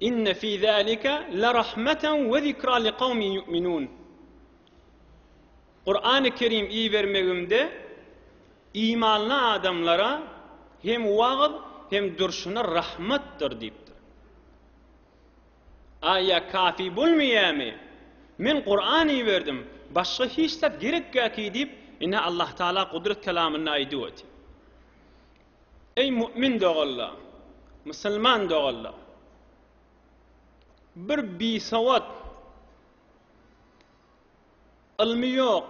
Inne fi zalika lerahmeten we zikra liqawmin yu'minun. Kur'an-y Kerim ibermegimde imanly adamlara hem wagyz hem durşuna rahmatdyr diýipdir. Aýa kafi bolmaýamy? Men Kur'an iberdim, başga hiç zat gerekgaki diýip, ine Allah Taala Gudrat Kelamynda aýdyp otyr. Eý mu'min doganlar, musulman doganlar! Bir bisowat, ylmy ýok,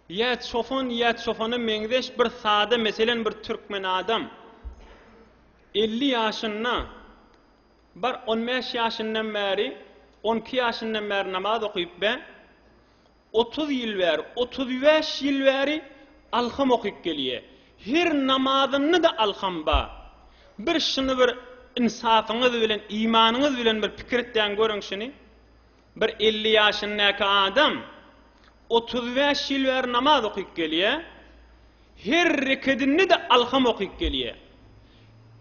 ýa çopan, ýa çopana meňzeş bir sada, meselem, bir türkmen adam, elli ýaşynda, bar, on bäş ýaşyndan bäri, on iki ýaşyndan bäri namaz okuyup be, Otuz ýyl bäri, otuz bäş ýyl bäri alham okyp gelýä. Her namazynda-da alham bar. Bir şuny bir ynsapyňyz bilen, imanyňyz bilen bir pikir etdäň görüň şuny. Bir elli ýaşyndaky adam otuz bäş ýyl bäri namaz okyp gelýä. Her rekedinde-de alham okyp gelýär.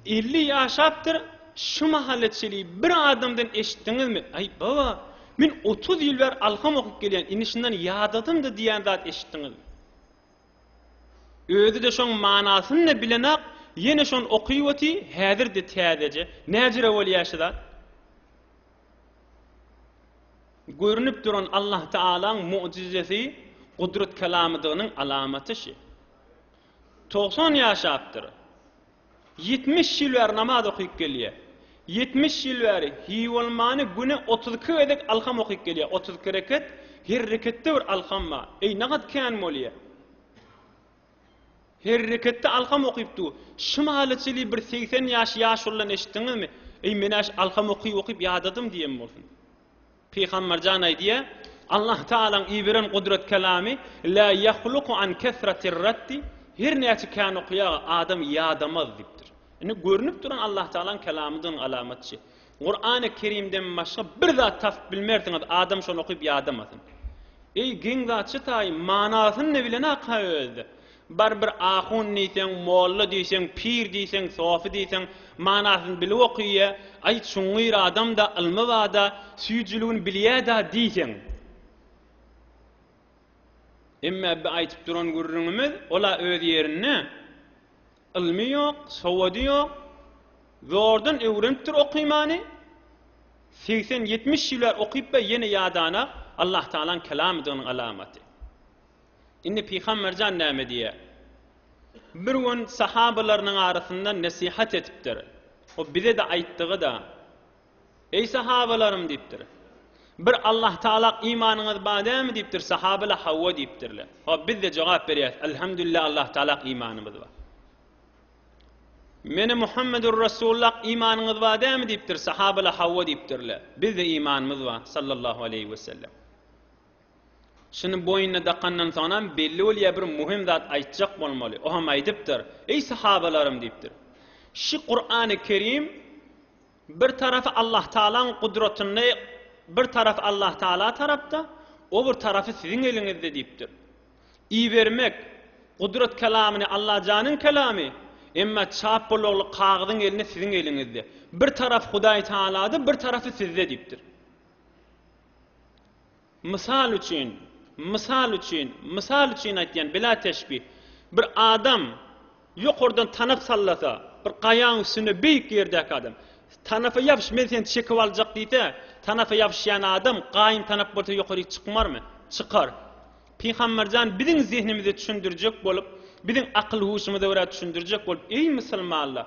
Elli ýaşapdyr, şu mahala çeli bir adamdan eşitdiňizmi, Aý, baba, men otuz ýyl bäri alham okyp gelýän, indi şundan ýadadym-da diýýän zat eşitdiňizmi? Özi-de şoň manasyny-da bilenok, ýene şony okyp otyr, häzir-de täzeje, näjire bolýar şu zat? Görnüp duran Allahtaalaň mojizesi gudrat kelamydygynyň alamaty şi. Togsan ýaşapdyr. Ýetmiş ýyl bäri namaz okyp gelýä. Ýetmiş ýyl bäri hibolmany güne otuz iki gezek alham okyp gelýä. Otuz iki reket, her reketde bir alham bar. Eý, nagat kän bolýa. Herreketde alkam okyp dur. Şymaly çili bir segsen ýaş ýaşulydan eşitdiňizmi? Eý, men-äş alkam okyp-okyp ýadadym diýen bolsun. Pygamberjan aýdýa, Allah Tagalaň iberen gudrat kelamy, Lä ýahluku an kesratir raddi, Her näçe kän okýa, adam ýadamaz diýipdir. Indi görnüp duran Allah Tagalaň kelamydygyny alamatçy. Kurany Kerimden başga bir zat tapyp bilmersiňiz adam şony okyp ýadamasyn. Eý geň zatçy taýy manasyny ne bilenak-ha özde. Bar bir ahun diýseň, molla diýseň, pir diýseň, sofy diýseň manasyny bilip okyýa, aý çuňňyr adamda, ylmy bada, süýjüligini bilýäda diýseň. Emmä bi aýtyp duran gürrüňimiz ol-a öz ýerinde. Ylmy ýok, sowady ýok, zordan öwrenipdir okymany, segsen, ýetmiş ýüler okypba ýene ýadana Allah Tagalaň kelamydygynyň alamaty. Indi Pygamberjan näme diýýär? Bir gün sahabalarynyň arasynda nesihat etipdir. O bize-de aýtdygy-da. Eý sahabalarym diýipdir. Bir Allah Taala imanyňyz bar dälmi diýipdir, sahabalar hawa diýipdirler. Hop bizde jogap berýäs, Elhamdülillah Allah Taala imanymyz bar. Meni Muhammedur Resulullah imanyňyz bar dälmi diýipdir, sahabalar hawa diýipdirler. Bizde imanymyz bar, sallallahu aleýhi we sellem. Şuny boýnuna dakandan soňam belli bolýar bir muhim zat aýtjak bolmaly. O hem aýdypdyr. Eý sahabalarym diýipdir. Şu Kur'an-ı Kerim Bir tarapy Allahtaalaň gudratynda, bir tarapy Allahtaala tarapda, o bir tarapy siziň eliňizde diýipdir. Ibermek, gudrat kelamyny Allajanyň kelamy, emma çap bolagly kagyzyň elini siziň eliňizde. Bir tarapy Hudaýtaalada, bir tarapy sizde diýipdir. Mysal üçin, mysal üçin, mysal üçin aýtýan, bila teşbih, bir adam ýokardan tanap sallasa, bir gaýaň üstünde beýik ýerdäki adam, Tanapa ýapyş, men seni çekip aljak diýse, tanapa ýapyşýan adam gaýyn tanap bolsa ýokaryk çykmarmy? Çykar. Pygamber jan biziň zehnimize düşündirjek bolup, biziň akyl-huşumyza görä düşündirjek bolup, Eý, musulmanlar!